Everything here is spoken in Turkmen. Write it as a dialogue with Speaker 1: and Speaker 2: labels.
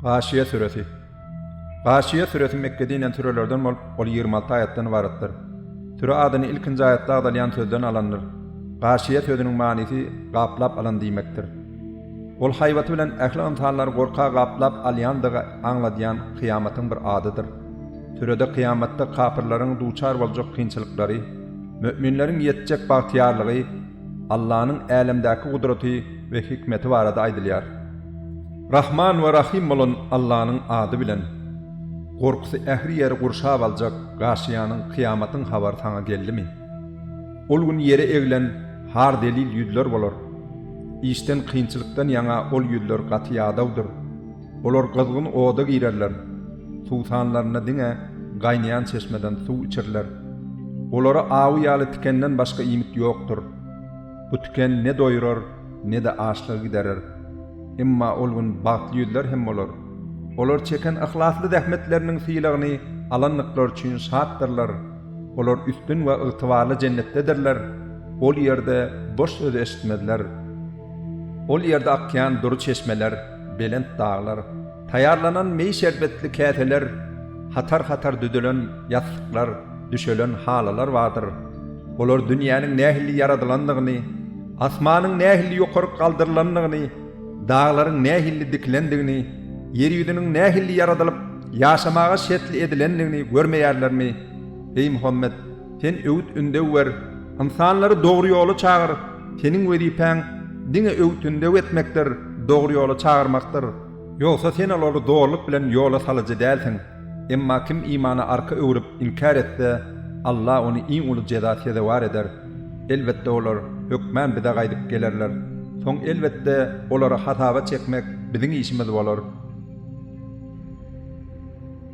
Speaker 1: Gaşyýa süresi. Gaşyýa süresi Mekge dinen sürelerden bolup, ol ýigrimi alty aýatdan ybaratdyr. Süre adyny ilkinji aýatda agzalýan sözden alandyr. Gaşyýa sözüniň manysy gaplap alan diýmekdir. Ol haýbaty bilen ähli ynsanlary gorka gaplap alýandygy aňladýan kyýamatyň bir adydyr. Sürede kyýamatda kapyrlaryň duçar boljak kynçylyklary, möminleriň ýetjek bagtyýarlygy, Allanyň älemdäki gudraty we hikmeti barada aýdylýar. Rahman we Rahym bolan Allanyň ady bilen. Gorkusy ähli ýeri gurşap aljak Gaşiýanyň kyýamatyň habary saňa geldimi? Ol gün ýere egilen har zelil ýüzler bolar. Işden kynçylykdan ýaňa ol ýüzler gaty ýadawdyr. Olar gyzgyn oda girerler, suwsanlarynda diňe gaýnaýan çeşmeden suw içerler. Olara awy ýaly tikenden başga iýmit ýokdur. Bu tiken ne doýrar, ne-de açlygy giderer. Emma ol gün bagtly ýüzler hem bolar. Olar çeken yhlasly zähmetleriniň sylagyny alandyklary üçin şatdyrlar. Olar üstün we ygtybarly jennetdedirler, ol ýerde boş söz eşitmezler. Ol ýerde akýan dury çeşmeler, belent daglar, taýýarlanan meý şerbetli käseler, hatar-hatar düzülen ýaslyklar, düşelen halylar bardyr. Olar dünýäniň nähili ýaradylandygyny, asmanyň nähili ýokaryk galdyrylandygyny, daglaryň nähili dikilendigini, ýer ýüzüniň nähili ýaradylyp, ýaşamaga şertli edilendigini görmeýärlermi, eý Muhammet! Sen öwüt-ündew ber, ynsanlary dogry ýola çagyr, seniň wezipäň diňe öwüt-ündew etmekdir, dogry ýola çagyrmakdyr. Ýogsa sen olary zorluk bilen ýola salyjy dälsiň. Emma kim imana arka öwrüp, inkär etse, Alla ony iň uly jeza sezewar eder. Elbetde olar, hökmän Bize gaýdyp gelerler. Soň, elbetde, olary hasaba çekmek Biziň işimiz bolar.